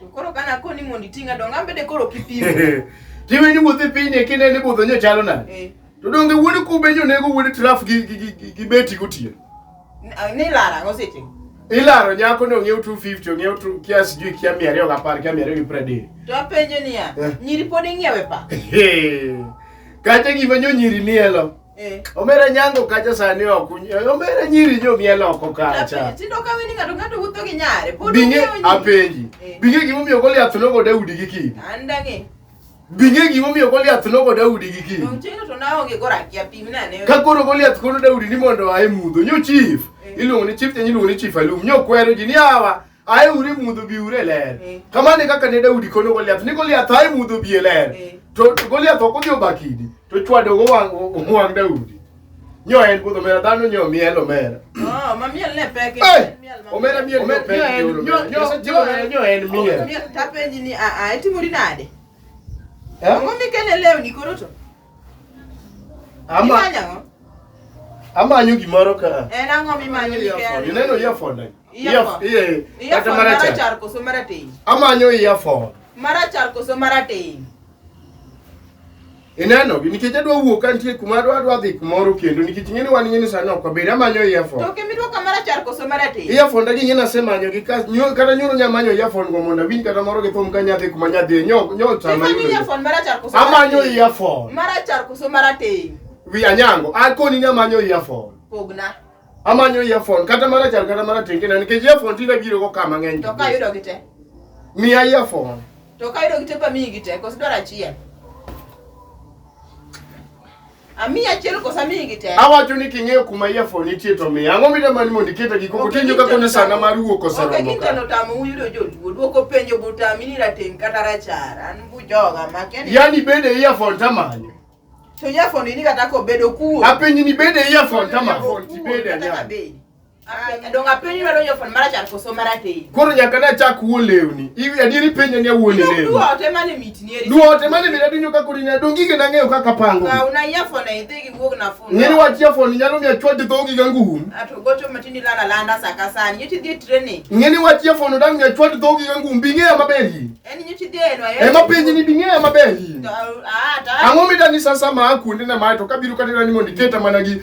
To koro kana koni mondo itinga donga ambede koro kipimo. Tiwe ni wuothi piny e kinde ni budho nyo chalo nade? Eh. To donge wuod kube nyo nego wuod traf gi gi gi beti gotieno. Ni lara ngo seche. Ilaro nyako ni ong'iew 250 ong'iew tu kia sijui kia mia ariyo gapar kia mia ariyo gi pradek. To apenjo niya, eh. nyiri pod ing'iewe pa? Kata gima nyo nyiri nielo. Eh. Omera nyango kacha sani ok uny- eh, omera nyiri jo miel oko kacha. Tindo ka weni ng'ato ng'ato wuotho gi nyare. Pod Binge ung'eyo nyiri. apenji. Eh. Binge gimomiyo Goliath nogo Daudi gi kidi. An dang'e. Binge gimomiyo Goliath nogo Daudi gi kidi. Dong' chieng'no to naonge gorakia pim nane. Ka koro Goliath kono Daudi ni mondo ae mudho. Nyo chief. Eh. Iluongo ni chief nyanyi iluongo ni chief alum. Nyo kwero ji ni awa. aye ure mudho bi ure ler eh. kamane kaka ne daudi kono goliath ni goliath aye mudho bi e ler eh. to goliath ok odhi obakidi to chwado go wang' daudi nyo en budho mera dhano nyo miel omera oh, ma miel ne pek eh, omera miel ne pek nyo en miel tapenji ni a a itimori nade eh? ang'o mikele lewni koro to Ama amanyo gimoro ka. En ang'o mimanyo earphone? Ineno earphone ai? Earphone. Kata marachar koso marateng'? Amanyo earphone. Marachar koso marateng'? Ineno gi nikech adwa wuok ka nitie kuma adwa adwa dhi kumoro kendo nikech ing'e ni wan ing'e ni sani ok wabed amanyo earphone. To kimidwa ka marachar koso marateng'? Earphone dagi ing'e nasemanyo gi kata nyoro nyamanyo earphone go mondo awinj kata moro gi thum ka nyadhi kuma nyadhi nyo nyo sama. Imanyo earphone marachar Amanyo earphone. Mara char kuso mara te. Wi anyango. Ako ni amanyo earphone. Pogna. Amanyo earphone kata mara char kata mara te kina nikech earphone tinde biro go kama ng'eny. To ka yudo gite. Mi earphone. To ka yudo gite pa mi gite koso dwara chiel. Ami achiel kosa mi gi te. Awacho ni king'eyo kuma yafo nitie to mi. Ang'o mi dama ni mondo iketa gi koko tinjo ka kono sana mar wuok ose romo ka. Okay, kitano tamo uyudo joluo. Duoko penjo butami ni rateng kata rachar. An bu joga ma keni. Yani bede yafo tamani. To yafo ni kata ko bedo kuo. Apenyi ni bede yafo tamani. Yafo ti bede nyaka. Koro nyaka ne achak wuo lewni. Iwi adieri penja ni awuo ni lewni. Duote mane mit ni eri. Duote mane mit adinyo ka kuri na dongi ke nang'eyo kaka pango. Ka una ya fona idhi gi wuog na fona. Ngeni wach ya fona nyalo mi achwa di dhogi ga ngum. Ato gocho matini lala landa saka sani. Yiti dhi training. Ngeni wach ya fona dang mi achwa di dhogi ga ngum binge ya maber yi. En yiti dhi eno ayo. Ema penji ni binge ya maber yi. Ah ta. Ang'o midani sasa ma akuonde na ma to kabiru katira ni mondi keta mana gi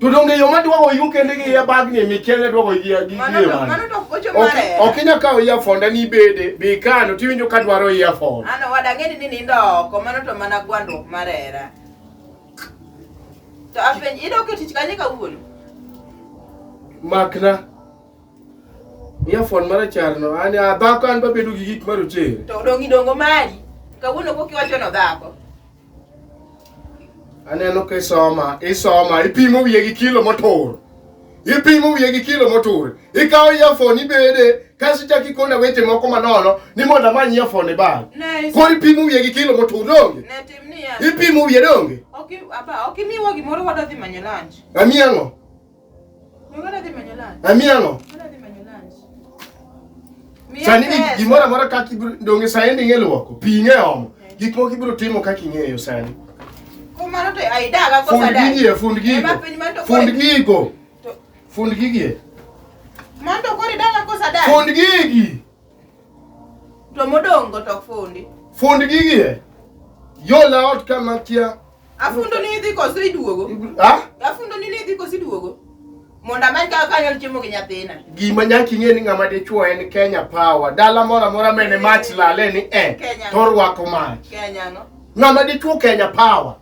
To donge yo ma dwago yu kende gi ya bag ni mi kende dwago gi gi mano to mano to ocho Ok mare ok inya kawo earphone ni bede bi kano tiwinjo ka dwaro earphone. ano wada ng'eni ni nindo oko mano to mana gwandruok mar hera to apenj idok e tich kanye kawuono Makna. Earphone marachar no an a dhako an babedo gi gik marochere. to odong' idongo mari kawuono kokiwachono dhako Aneno ka isoma, isoma, ipimo wiye gi kilo motur. Ipimo wiye gi kilo motur. Ikawo earphone ibede kaso ichako ikona weche moko manono ni mondo amany earphone e bag. Koro ipimo wiye gi kilo motur donge? Ipimo wiye donge? Ok, aba, ok imiwa gimoro wadodhi manyo lunch. Amiyango. Amielo. Sani gimoro amora kaka donge sani ndi ng'e luoko, pi ng'e omo, gik moko ibiro timo kaka ing'eyo sani. Kumano to aidaga ko sadaka. Fund gigie, fund gigo. Fund gigo. Fund gigie. Mondo kori daga ko sadaka. Fund gigi. To modong' go to fundi. Fund gigi e. Yola ot kama kia. Afundo ni idhi koso iduogo. Ha? Afundo ni idhi koso iduogo. Mondo amany kaka kanyal chiemo gi nyathina. Gima nyaka ing'e ni ng'ama dichwo en Kenya Power. Dala moro amora mene mach lale ni eh. Kenya. To rwako mach. Kenya no. Ng'ama dichwo Kenya Power.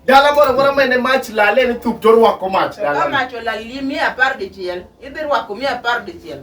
Dala moro amora mene mach lale ni thup to rwako mach. Ka mach olal mia apar dichiel, idhi rwako mia apar dichiel.